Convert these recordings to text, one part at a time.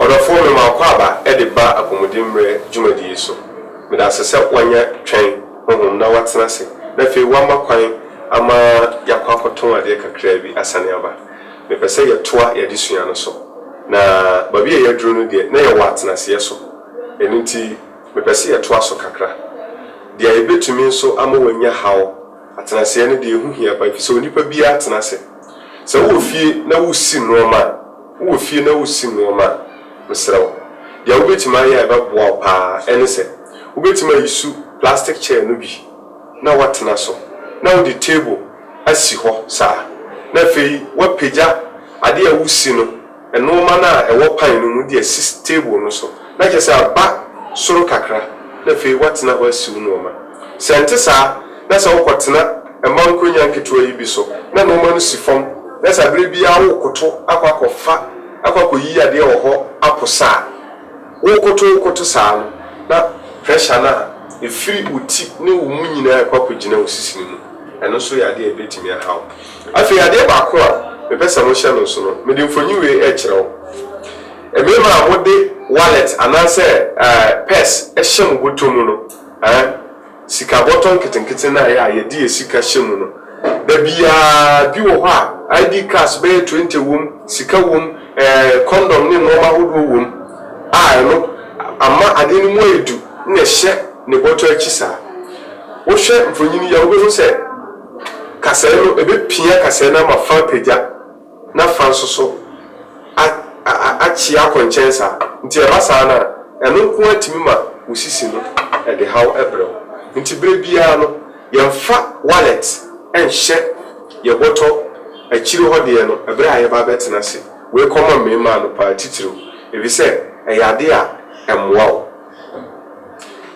Ɔdɔfoɔ mema akwaaba de ba apɔmuden mmerɛ dwumadie yi so. Meda ase sɛ woanya Twɛn honhom na woatena ase na afei woama kwan ama yɛakɔ akɔtɔn adeɛ kakraa bi asane aba. Mepɛ sɛ yɛtoa y'adesua no so. Na baabi a yɛaduru no deɛ na yɛwɔ atenaseɛ so ɛno nti mepɛ sɛ yɛtoa so kakra. Deɛ ɛbɛtumi nso ama woanya haw. Atenaseɛ no deɛ, ɛho hia paa ɛfiri sɛ onipa biara tena ase. Sɛ wowɔ fie na wosi nnoɔma a, wowɔ fie na wosi nnoɔma a, mesrɛ wo, deɛ wobɛtumi ayɛ a ɛbɛboa wo paa ara ne sɛ, wobɛtumi ayi su plastic chair no bi na woatena so, na wode table asi hɔ saa, na afei woapagya adeɛ a wosi no. Nnooma no a ɛwɔ pan no mu de asi table no so, na kyerɛ sɛ aba soro kakra na afei woatena hɔ asiw nnooma. Sɛ ɛnte saa na sɛ wokɔtena mma nkonnwa nketewa yi bi so na nnooma no si fam na sɛ bere biara worekoto akɔ akɔfa akɔ akɔyi adeɛ wɔ hɔ aposa a, worekoto worekoto saa no na pressure no a ɛfiri wo ti ne wo mu nyinaa rekɔ akɔgyina wo sisi no mu, ɛno nso yɛ adeɛ a ɛbɛtumi ahaw Afei adeɛ baako a mepɛ sɛ mohyɛ no nso no, mede mfoni wei rekyerɛ wo. Mmarima a mode wallet anaasɛ purse hyɛ mo bɔtɔ mu no, eh, sika bɔtɔ nketenkete no a ɛyɛ a yɛde yɛn sika hyɛ mu no, da biara bi wɔ hɔ a ID cards bɛyɛ twenty wom, sika wom, eh, condom ne nnoɔma ahodoɔ wom a ɛno ama adeɛ no mu ayɛ du na ɛhyɛ ne bɔtɔ akyi saa. Wohwɛ mfonini yi a wobɛhu sɛ. Kasae no, ebepia kasae no ama fã apagya na fã nso so akyea kɔ nkyɛn saa. Nti ɛba saa no a, ɛno nko ara tumi ma wo sisi no de haw brɛ wo. Nti berɛ biara no, yɛmfa wallet nhyɛ yɛn bɔtɔ akyire hɔ deɛ no berɛ a yɛba abɛtena ase. Wei kɔma mmarimaa no paa titiriw, efisɛ ɛyɛ adeɛ a ɛmmoa wo.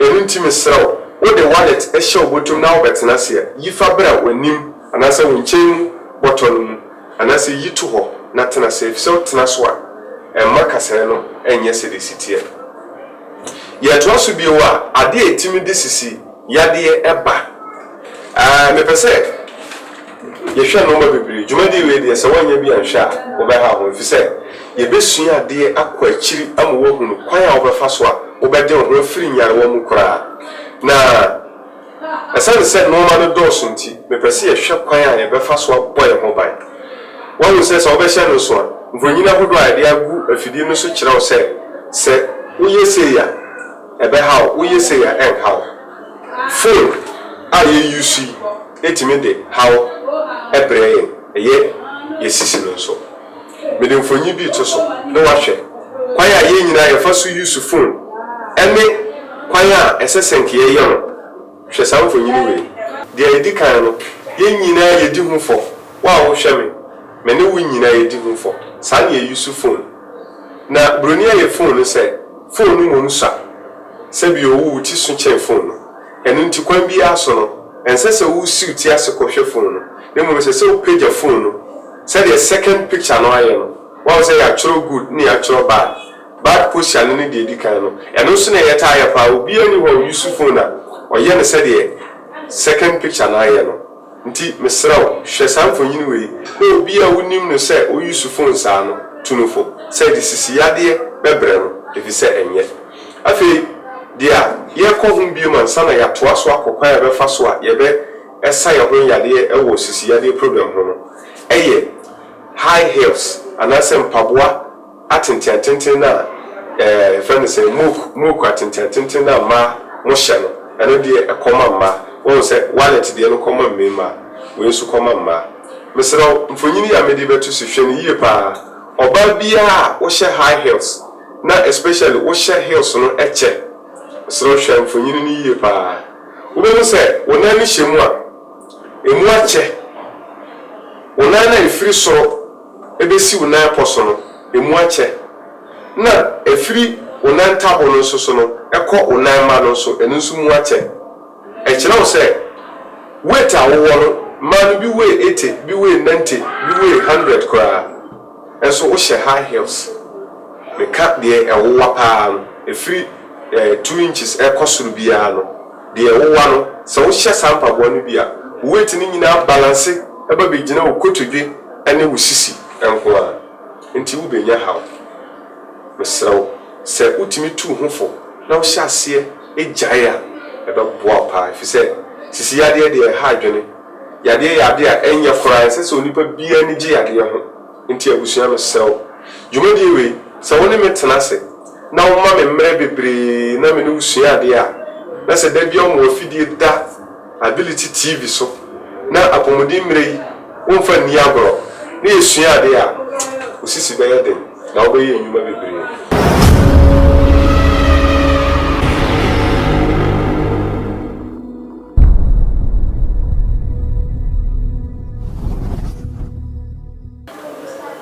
Ɛno nti mesrɛ wo, wo de wallet hyɛ wo bɔtɔ mu na wobɛtena ase a, yi fa bra w'anim anaasɛ wo nkyɛn mu bɔtɔ no mu, anaasɛ yi to hɔ na tena ase, ɛfiri sɛ wotena so a, ɛmma kasaeɛ no nyɛ sɛdeɛ ɛsi teɛ. Yɛtoa so bio a, adeɛ a ɛtumi de sisi yadeɛ ba. Mepɛ sɛ yɛhwɛ nnoɔma bebree. Dwumadie wei deɛ sɛ woannya bi anhwɛ a, wobɛha wo ho ɛfiri sɛ yɛbɛsua adeɛ akɔ akyiri ama woahunu kwan a wobɛfa so a wobɛde wo ho afiri nyarewa mu koraa. Na ɛsiane sɛ nnoɔma no dɔɔso nti, mepɛ sɛ yɛhwɛ kwan a yɛbɛfa so abɔ yɛn ho ban. Woahunu sɛ sɛ wobɛhyɛ no nso a, mfonini ahodoɔ a yɛde agu afidie no so kyerɛ wo sɛ, sɛ woyɛ sei a ɛbɛha wo, woyɛ sei a ɛrenha wo. Foon a yɛ use yi tumi de haw brɛ yɛn, ɛyɛ yɛ sisi no nso. Mede mfonyin bi reto so na woahwɛ kwan a yɛn nyinaa yɛfa so use foon ɛne kwan a ɛsɛ sɛ nka yɛyɛ no. Hwɛ saa mfonyin wei. Deɛ ɛdi kan no, yɛn nyinaa yɛdi ho fɔ. Wo a wohwɛ me, me ne wo nyinaa yɛdi ho fɔ. Saa na yɛ use foon. Na buroni a ɛyɛ fon no sɛ fon no mmom sua sɛ bi owu wo ti so kyɛn fon no. Ɛno nti kwan biara so no, ɛnsɛ sɛ wosi wo ti ase kɔhwɛ fon no, na mmom ɛsɛ sɛ wopagya fon no. Sɛdeɛ second picture no ayɛ no, woahu sɛ yɛatwerɛ good na yɛatwerɛ bad. Bad posture no ne deɛ ɛdi kan no. Ɛno nso na yɛtaa yɛ paa. Obiara nni hɔ a ɔuse fon a ɔyɛ no sɛdeɛ second picture no ayɛ no. Nti mesrɛ wo, hwɛ saa mfonyin wei, na obi a wunim no sɛ oyi su fon saa no, tu no fo sɛ ɛde sisi yadeɛ bɛbrɛ no, efisɛ ɛnyɛ. Afei, deɛ a yɛrekɔ ho biom ansa na yɛatoa so akɔ kwan a yɛbɛfa so a yɛbɛsa yɛn ho yadeɛ wɔ sisi yadeɛ program ho no, ɛyɛ high heels anaasɛ mpaboa, Atentenatenten no a yɛfrɛ no sɛ mook mook atentenatenten no a mmaa mo hyɛ no, ɛno deɛ ɛkɔ ma mmaa. Woahu sɛ wallet deɛ no kɔ ma mmarima, wei nso kɔ ma mmaa. Mesrɛ wo, mfonini yi a mede rebɛto so, hwɛ no yie pa ara. Ɔbaa biara a wohyɛ high heels na especially wohyɛ heels no kyɛ, mesrɛ wo hwɛ mfonini no yie pa ara. Wobɛhu sɛ wo nan no hyɛ mu a, ɛmu akyɛ. Wo nan no a ɛfiri soro. bɛsi wo nan pɔ so no, ɛmu akyɛ, na ɛfiri wo nan ntabo no nso so no kɔ wo nan mma no nso, ɛno nso mu akyɛ. Ɛkyerɛ wo sɛ weight a wowɔ no, mmaa no bi weigh eighty, bi weigh ninety, bi weigh hundred koraa, nso wohyɛ high heels. Meka deɛ ɛwowa pa ara no, ɛfiri two inches kɔ soro biara no. Deɛ wowa no, sɛ wohyɛ saa mpaboa no bi a, wo weight no nyinaa balanse ba bɛgyina wo kotodwe ne wo sisi nko ara. Enti wobɛnya haw. Mesrɛ wo, sɛ wotumi tu wo ho fo na wohyɛ aseɛ gyae a, ɛbɛboa wo pa ara. Ɛfiri sɛ, sisi yadeɛ deɛ, ɛha adwene. Yadeɛ yɛ adeɛ a ɛnyɛ koraa. Ɛnsɛ sɛ onipa biara ani gye yadeɛ ho. Nti abusua mesrɛ wo dwumadie wei sɛ wo ne me tena ase na wo ma me mmerɛ bebree na me ne wo sua adeɛ a na sɛ da biara wɔn afidie da ability TV so na apɔmuden mmerɛ yi wo nfa nni agorɔ na yɛ sua adeɛ a wo sisi bɛyɛ den na wo bɛyɛ nnwuma bebree.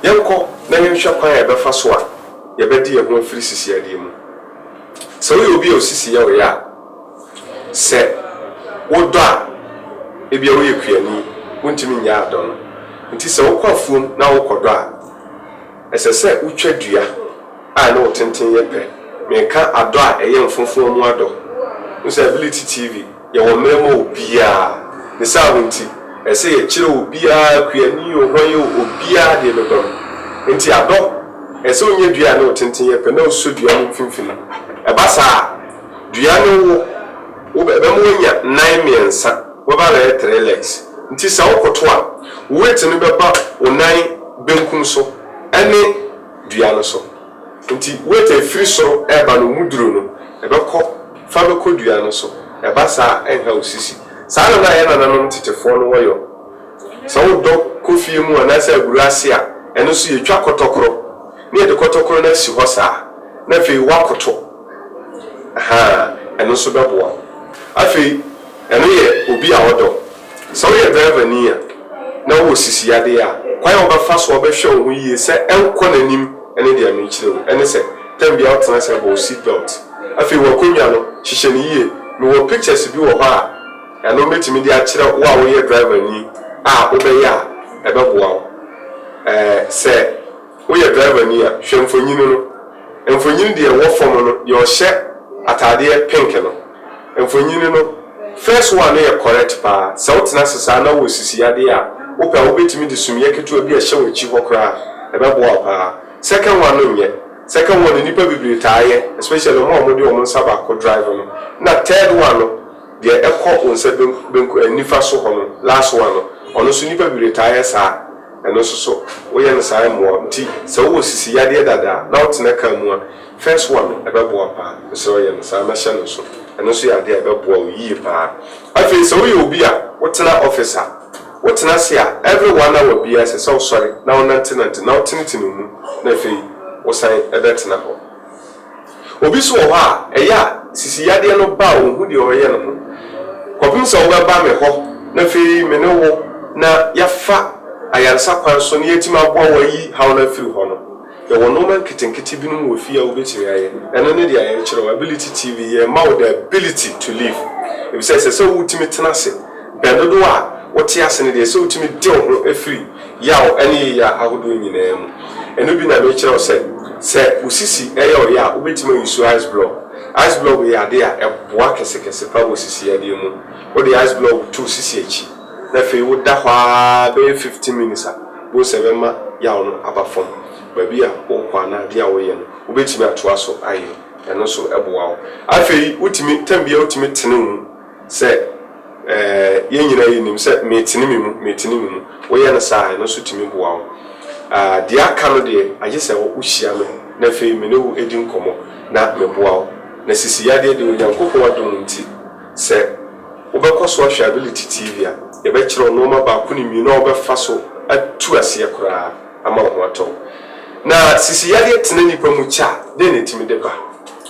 Yɛnkɔ na yɛnhwɛ kwan a yɛbɛfa so a yɛbɛde yɛn ho afiri sisiyadeɛ mu. Sɛ woyɛ obi a osisi yɛ wo ya a, sɛ wodɔ a, ebia woyɛ kuani, wontumi nnyae adɔ no. Enti sɛ wokɔ afuom na worekɔdɔ a, ɛsɛ sɛ wotwa dua. a ne wo tenten yɛ pɛ meka adɔ a ɛyɛ mfomfoɔ mu adɔ wohu sɛ ability tv yɛwɔ mmerɛ ma obiaa ne saa no nti ɛsɛ sɛ yɛkyerɛ obiaa kuani oo hwan oo obiaa deɛ bɛba mu nti adɔ ɛsɛ sɛ wonya dua a ne wo tenten yɛ pɛ na wosɔ dua no mfimfini ɛba saa a dua no wo wo ɛbɛma woanya nan mmiɛnsa wobɛba abɛyɛ three legs nti sɛ wokoto a wo weight no bɛba wo nan benkum so ɛne. dua no so. Enti wet a ɛfiri soro reba no mu duro no, ɛbɛkɔ fa bɛkɔ dua no so. Ɛba saa a, ɛnha wo sisi. Saa na na yɛn nananom tetefoɔ no wɔyɔ. Sɛ wodɔ kɔ fie mu anaasɛ aburo ase a, ɛno nso yɛtwa kɔtɔkorɔ, na yɛde kɔtɔkorɔ no asi hɔ saa, na afei woakoto. Ahaa, ɛno nso bɛboa wo. Afei, ɛno yɛ obi a ɔdɔ. Sɛ woyɛ drivani a na wowɔ sisi yadeɛ a, kwan a wobɛfa so a wobɛhwɛ wo ho yie sɛ ɛnkɔ n'anim ne deɛ merekyerɛ wo ne sɛ, time biara wotena ase a bɔ wo seat belt. Afei, w'akonnwa no, hyehyɛ no yie. Mewɔ pictures bi wɔ hɔ a, ɛno mɛtumi de akyerɛ wo a woyɛ drivani a wobɛyɛ a ɛbɛboa wo sɛ. Woyɛ driverni a, hwɛ mfonyin no. Mfonyin deɛ ɛwɔ fam no, deɛ ɔhyɛ ataadeɛ pink no. Mfonyin no, first one no yɛ correct paa. Sɛ wotena ase saa na wowɔ sisi yadeɛ a, wopɛ a, wobɛtumi de sumiiɛ ketewa bi ahyɛ w'akyi hɔ koraa. Ɛbɛboa wo paa. Second one no nyɛ. Second one no, nnipa bebree taa yɛ, especially wɔn a wɔde wɔn nsa baako drive no. Ɛna third one no, deɛ ɛkɔ wo nsa benku, benku, eh, nifa so hɔ no, last one no, ɔno nso nnipa bebree taa yɛ saa. Ɛno nso so woyɛ no saa mmoa wo. Nti sɛ wowɔ sisi yadeɛ dada a na wotena car mu a, first one no ɛbɛboa paa. Mesrɛ wo yɛ no saa na hyɛ no nso. Ɛno nso yɛ adeɛ a ɛbɛboa wo yie paa. Afei sɛ woyɛ obi a wotena office a, wotena ase a every one hour biara ɛsɛ sɛ wosɔre na wonantenante na wotenetene wo mu na afei wosan bɛtena hɔ. Obi nso wɔ hɔ a, ɛyɛ a sisi yadeɛ no ba a ɔnhu deɛ ɔreyɛ ne ho kɔpem sɛ wobɛba me hɔ na afei me ne wo na yɛafa ayaresa kwan so na yɛatumi aboa wo ayi haw no afiri hɔ no. Yɛwɔ nnoɔma nketenkete binom wɔ fie a wobɛtumi ayɛ. Ɛno ne deɛ yɛrekyerɛ wo, Ability TV, yɛrema wo the ability to live. Ɛfiri sɛ ɛsɛ sɛ wotumi tena ase, bɛn dodoɔ a wote ase no deɛ ɛsɛ sɛ wotumi de wo ho firi. Yaw ne yea ahodoɔ nyinaa mu. Ɛno bi na merekyerɛ wo sɛ, sɛ wo sisi yɛ wo ya a, wobɛtumi ayi so ice block. Ice block yɛ adeɛ a ɛboa kɛsekɛse pa wɔ sisi yadeɛ mu. Wode ice block to wo sisi akyi na afei woda hɔ ara bɛyɛ fifteen minutes a, wobɛhu sɛ ɛbɛma yaw no aba fam. Baabi a wokɔ anaa adeɛ a woyɛ no, wobɛtumi atoa so ayɛ. Ɛno nso boa wo. Afei wotumi, tam biara wotumi tene wo mu. Sɛ yɛn nyinaa yi nim sɛ metene me mu, metene me mu. Woyɛ no saa a, ɛno nso tumi boa wo. Deɛ aka no deɛ, agye sɛ wohyia me na afei me ne wo di nkɔmmɔ na meboa wo. Na sisi yadeɛ deɛ, Onyankopɔn adom nti, sɛ wobɛkɔ so ahwɛ Ability TV a, yɛbɛkyerɛ wo nnoɔma baako ne mmienu a wobɛfa so atu aseɛ koraa ama wo ho atɔ wo. Na sisi yadeɛ tena nnipa mu kyɛ a, dɛn na ɛtumi de ba?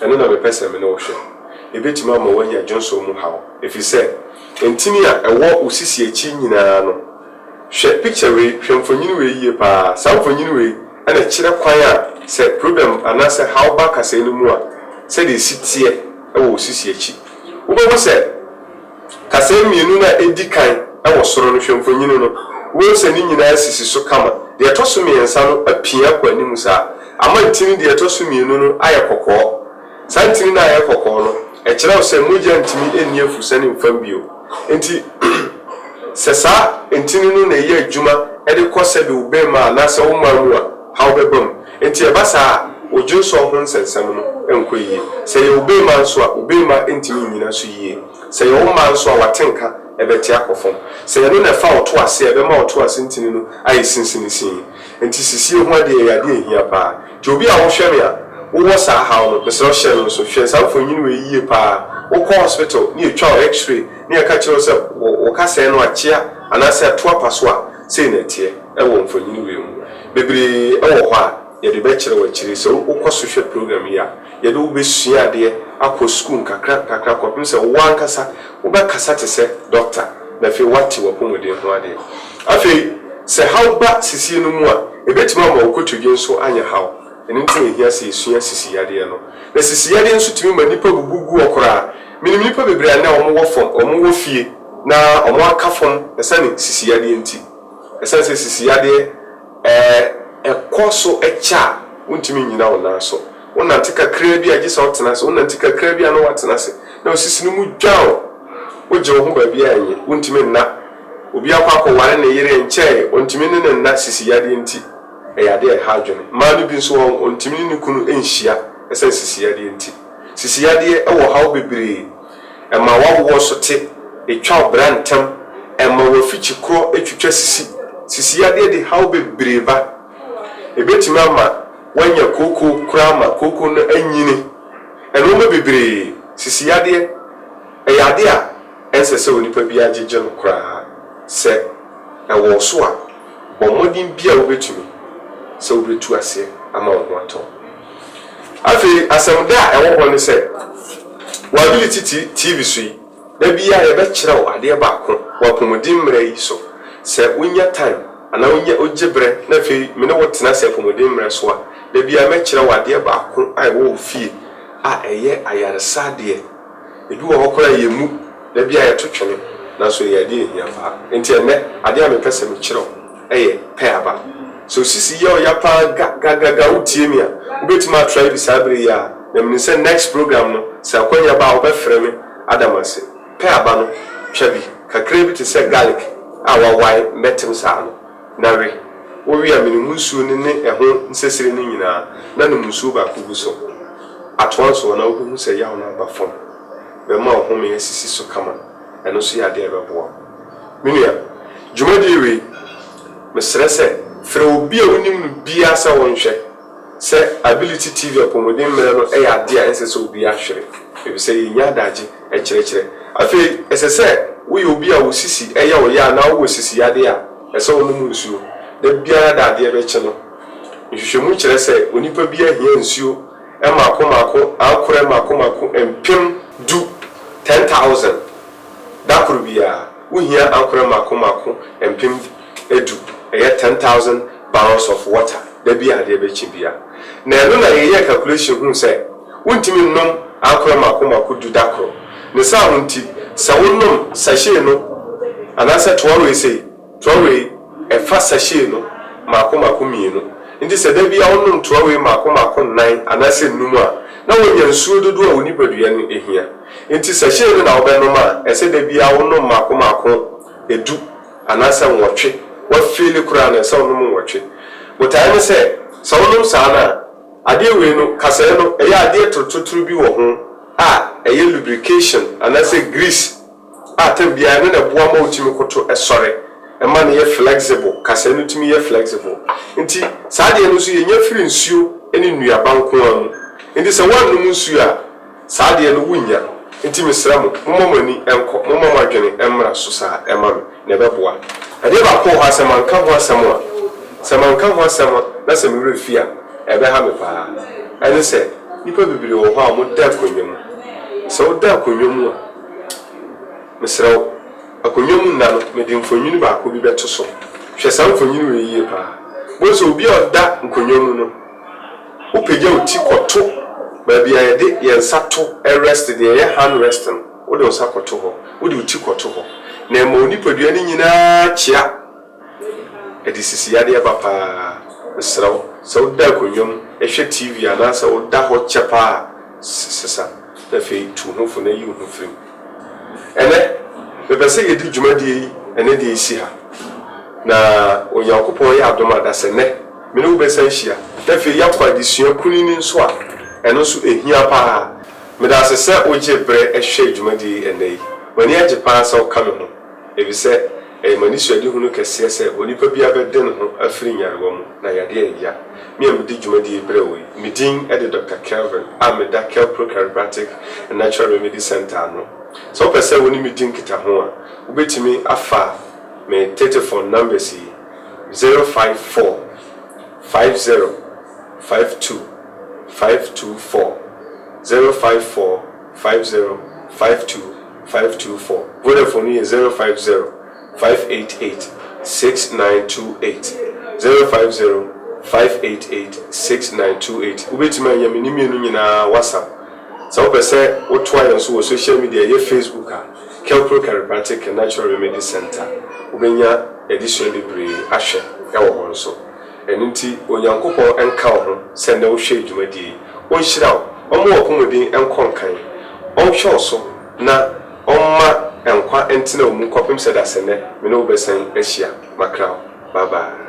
Ɛno na mepɛ sɛ me ne wo hwɛ. ebetumi ama woanya dwonsɔ mu haw, efisɛ ntini a ɛwɔ wo sisi akyi nyinaa no Hwɛ pikya wei, hwɛ mfonini wei yiye paa. Saa mfonini wei na ɛkyerɛ kwan a sɛ problem anaasɛ haw ba kasae no mu a, sɛnea esi teɛ wɔ wo sisi akyi. Wubehu sɛ kasae mmienu no a edi kan wɔ soro no, hwɛ mfonini no, wubehu sɛ ne nyinaa sisi so kama. Deɛ ɛtɔ so mmiɛnsa no apia kɔ anim saa. Ama ntini deɛ ɛtɔ so mmienu no ayɛ kɔkɔɔ. Saa ntini no a ɛyɛ kɔkɔɔ no, ɛkyerɛw sɛ mogya ntumi nni afurusɛ no mfam bio. Enti, sɛ saa ntini no na ɛyɛ adwuma de kɔ sɛbe wo bemma anaasɛ wo mmaa mu a, haw bɛba mu. Enti ɛba saa a, wo dwonsɔ ho nsɛnsɛm no nkɔ yiye. Sɛ ɛyɛ wo bemma nso a, wo bemma ntumi nnyina so yiye. Sɛ ɛyɛ wo mmaa nso a, w'atenka bɛte akɔ fam. Sɛ ɛno na ɛfa wo to ase a, ɛbɛma wo to ase ntini no ayɛ sinsinisiin. Enti sisie ho adeɛ ɛyɛ adeɛ a ɛhia paa. Nti obi a wohwɛ no a wowɔ saa haw no, mesrɛ wo hyɛ no nso. Hwɛ saa mfonini wei yie paa. Wokɔ hospital ne yɛtwa wo X-ray ne yɛka kyerɛ wo sɛ wo wo kasɛɛ no akyea anaasɛ atu apa so a, sei na ɛteɛ wɔ mfonini wei mu. Bebree wɔ hɔ a yɛde bɛkyerɛ wo akyire. Sɛ wokɔ so hwɛ program yi a, yɛde wo bɛsua adeɛ akɔ sukuu nkakra nkakra kɔpem sɛ wo ankasa wobɛkasa te sɛ dɔkta, na afei woate w'apɔmuden ho ade. Afei, sɛ haw ba sisie no mu a, ebetumi ama wo kotodwe nso anyɛ haw. Ɛno nti na ehia sɛ yesua sisiyadeɛ no. Na sisiyadeɛ nso tumi ma nnipa bubu gu hɔ koraa. Minim nnipa bebree a nnɛ wɔwɔ fam, wɔwɔ fie, na wɔaka fam ɛsane sisiyadeɛ nti. Ɛsane sɛ sisiyadeɛ ɛkɔ so kyɛ a, wuntumi nnyina wo nan so. Wonante kakraa bi a, gye sɛ wotena ase. Wonante kakraa bi a, na woatena ase. Na wosisi no mu dwann. Wogye wo ho baabiara a, enye. Wontumi nna. Obi akɔ akɔware ne yere nkyɛe, ontumi ne no nna sisi yadeɛ nti. Ɛyɛ adeɛ a ɛha adwene. Mmaa no bi nso, wɔn, ontumi ne ne kunu nhyia ɛsiane sisi yadeɛ nti. Sisi yadeɛ wɔ haw bebree. Ɛma w'awoɔ so te. Etwa wo bra ntɛm. Ɛma w'afikyi korɔ twitwa sisi. Sisi yadeɛ de haw bebree ba. Ebetumi ama wɔanya kooko koraa ma kooko no anyini. Nnoɔma bebree sisi yadeɛ. Ɛyɛ adeɛ a ɛnsɛ sɛ onipa biara gyegye no koraa. Sɛ ɛwɔ wo so a, bɔ mmɔden biara a wobɛtumi sɛ wobɛtu aseɛ ama wo ho atɔ wo. Afei asɛmda a ɛwɔ hɔ ne sɛ, W'ability TV so yi, Da biara yɛbɛkyerɛw adeɛ baako wɔ apɔmuden mmara yi so. Sɛ wonya time anaa wonya wogye berɛ na afei me ne wo tena ase apɔmuden mmara so a, da biara mɛkyerɛw adeɛ baako a ɛwɔ wo fie a ɛyɛ ayaresa adeɛ. Ebi wɔ hɔ koraa a yɛmmu, da biara yɛto twene, nanso ɛyɛ adeɛ a ɛhia paa. Enti ɛnnɛ, adeɛ a mepɛ sɛ mekyerɛw. yɛ pɛ aba. Sɛ osisi yɛ ɔya paa gagagaga wo tie me a, wo bɛtumi a try bi saa berɛ yi ara na menim sɛ next program no sɛ akwanya ba a wo bɛfrɛ me ada me ase. Pɛ aba no twa bi kakraa bi te sɛ garlic a wawae mmɛtem saa no na we. Wo we a mene mu nsuo no ne ɛho nsesire no nyinaa na nom nsuo baako gu so. Atoa nso na wo bɛhu sɛ yaw no aba fam. Bɛma wo home asisi so kama. Ɛno nso yɛ adeɛ a ɛbɛboa wo. Me nua, dwumadie wei, mesrɛ sɛ frɛ obi a wonim no biara sɛ ɔnhwɛ, sɛ Ability TV apɔmuden mmerɛ no yɛ adeɛ a ɛnsɛ sɛ obiara hwere, ɛfiri sɛ yɛnya adagye kyerɛkyerɛ. Afei ɛsɛ sɛ woyɛ obi a wo sisi yɛ wo ya anaa wowɔ sisi yadeɛ a, ɛsɛ sɛ wonom nsuo da biara da adeɛ bɛkye no. Nhwehwɛmu kyerɛ sɛ onipa biara hia nsuo mmaako mmaako ankorɛ mmaako mmaako mpem du, 10,000. Da koro biara, wohia ankorɛ mmaako mmaako mpem du, ɛyɛ 10,000 barrels of water, da biara a adeɛ bɛkye biara. Na ɛno na yɛyɛɛ calculation huu sɛ, wontumi nnom ankorɛ mmaako mmaako du da koro. Ne saa ho nti, sɛ wonom sachet no anaasɛ toa wei sei, Trɔwee, Ɛfa sachet no mmaako mmaako mmienu. Enti sɛ da biara wonom trɔwee mmaako mmaako nnan anaasɛ nnum a, na woanya nsuo dodoɔ a wo nipadua no hia. Enti sachet no na wobɛnom a, ɛsɛ sɛ da biara wonom mmaako mmaako du anaasɛ nwɔtwe. Woafeeli koraa no, ɛsɛ sɛ wonom nwɔtwe. Botaeɛ ne sɛ, sɛ wonom saa no a, adeɛ wei no, kasɛɛ no, ɛyɛ adeɛ torotoro bi wɔ ho a ɛyɛ lubrication anaasɛ grease. a tam biara ɛno na ɛboa ma wotumi koto sɔre ɛma no yɛ flexible kasaɛ no tumi yɛ flexible nti saa adeɛ no nso yɛnya firi nsuo ne nnuaba nko ara mu nti sɛ woannom nsuo a saa adeɛ no wonnya nti mesrɛ mo momma mo ani nkɔ momma mo adwene mmra so saa ɛma me na ɛbɛboa adeɛ baako wɔ hɔ a sɛ manka ho asɛm a sɛ manka ho asɛm a na sɛ me werɛ fi a ɛbɛha me paa ɛne sɛ nnipa bebree wɔ hɔ a wɔda akonnwa mu sɛ woda akonnwa mu a Mesrɛ wo, akonnwa mu nna no, mede mfonini baako bi bɛto so. Hwɛ saa mfonini wei yie paa. Wobɛhu sɛ obi a ɔda nkonnwa mu no, wopagya wo ti kɔto baabi a yɛde yɛn nsa to rest, deɛ ɛyɛ hand rest no, wode wo nsa kɔto hɔ, wode wo ti kɔto hɔ, na ɛma wo nipadua no nyinaa kyea. Ɛde sisi yadeɛ ba pa ara. Mesrɛ wo, sɛ woda akonnwa mu hwɛ TV anaasɛ woda hɔ kyɛ pa ara a, sesa na afei tu wo ho fo na yi wo ho firi mu. Ɛnnɛ, mepɛ sɛ yɛdi dwumadie yi ɛnnɛ deɛ ɛsi ha. Na Onyankopɔn ayɛ adom a, dasɛnnɛ, me ne wo bɛsan ahyia na afei yɛakɔ adesua kunini nso a ɛno nso ɛhia pa ara. Meda ase sɛ wogye berɛ hwɛɛ dwumadie yi ɛnnɛ yi. M'ani agye pa ara sɛ woka me ho. Efisɛ ɛyɛ m'anisoadehunu kɛseɛ sɛ onipa biara bɛde ne ho afiri nyarewa mu na yadeɛ a ɛya me a medi dwumadie yi brɛ wo yi. Me din de Doctor Kelvin a meda Kelpro Chiropractic and Natural Remedy Centre ano. Sɛ wopɛ sɛ wo ne me di nkitaho a, wobɛtumi afa me tetefon numbers yi, 054 50 52 524, 054 50 52. five two four Vodafone no yɛ zero five zero five eight eight six nine two eight zero five zero five eight eight six nine two eight Wobɛtumi anya me ne mmienu nyinaa WhatsApp Sɛ wopɛ sɛ wotoa yɛn so wɔ social media a ɛyɛ Facebook a Kelpro Chiropractic and Natural Remedy Center Wobɛnya adesua bebree ahwɛ wɔ hɔ nso. Ɛno nti, Onyankopɔn nka wo ho sɛ nnɛ wohwɛ dwumadie yi. Ɔnhyira wo, ɔmma w'apɔmuden nkɔ nkan, ɔnhwɛ wo so na ɔmma nkwa ntena wo mu kɔpem sɛ dasenɛ me ne wo bɛsan ahyia. Makra wo. Bye bye.